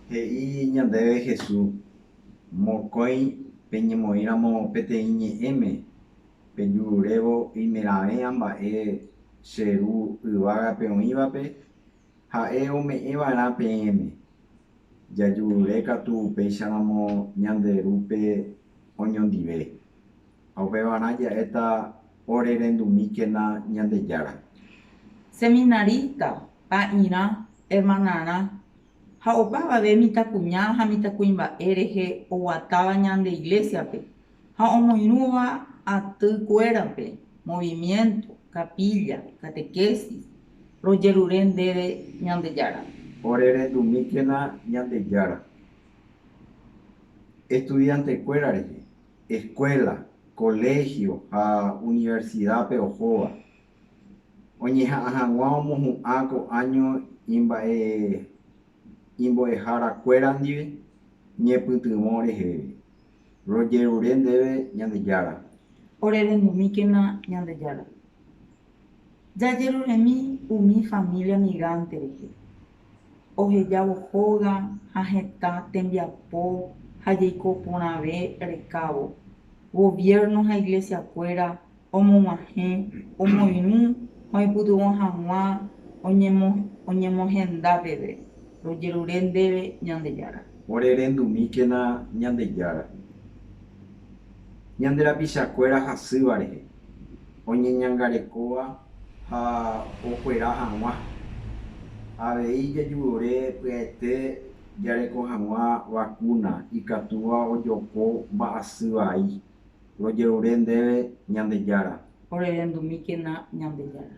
He'i ñandéve Jesús, Mokõi peñemoĩramo peteĩ ñe'ẽme, pejururévo oimeraẽva mba'e che Ru yvágape oĩvape Ha'e ome'ẽva'erã peẽme. Jajurure katu upéicharamo ñande Rúpe oñondive. Ha upevarã ja'éta orerendumíkena Ñandejára. Seminarista, ta'irã, hermanarã, ha opavave mitãkuña ha mitãkuimba'e rehe oguatáva ñande Iglésiape ha omoirũva aty kuérape, movimiento, capilla, catequesis, rojerure ndéve Ñandejára. Orerendumíkena Ñandejára estudiante kuéra rehe. eskuéla, koléhio ha universidápe ohóva, oñeha'ã hag̃ua omohu'ã ko áño imba'e imbo'eharakuéra ndive ñepytyvõ reheve. Rojerure ndéve Ñandejára. Orerenumíkena Ñandejára. Jajeruremi umi família migánte rehe, ohejávo hóga ha hetã tembiapo ha jaiko porãve rekávo. Goviérno ha Iglesiakuéra omog̃uahẽ omoirũ ha oipytyvõ hag̃ua oñemohenda peve, rojerure ndéve Ñandejára. Ore rendumíkena Ñandejára, ñande rapichakuéra hasýva rehe. oñeñangarekóva ha okuera hag̃ua. Avei jajurore pya'ete jareko hag̃ua vakúna ikatúva ojoko mba'asy vai, rojerure ndéve Ñandejára. Orerendumíkena Ñandejára.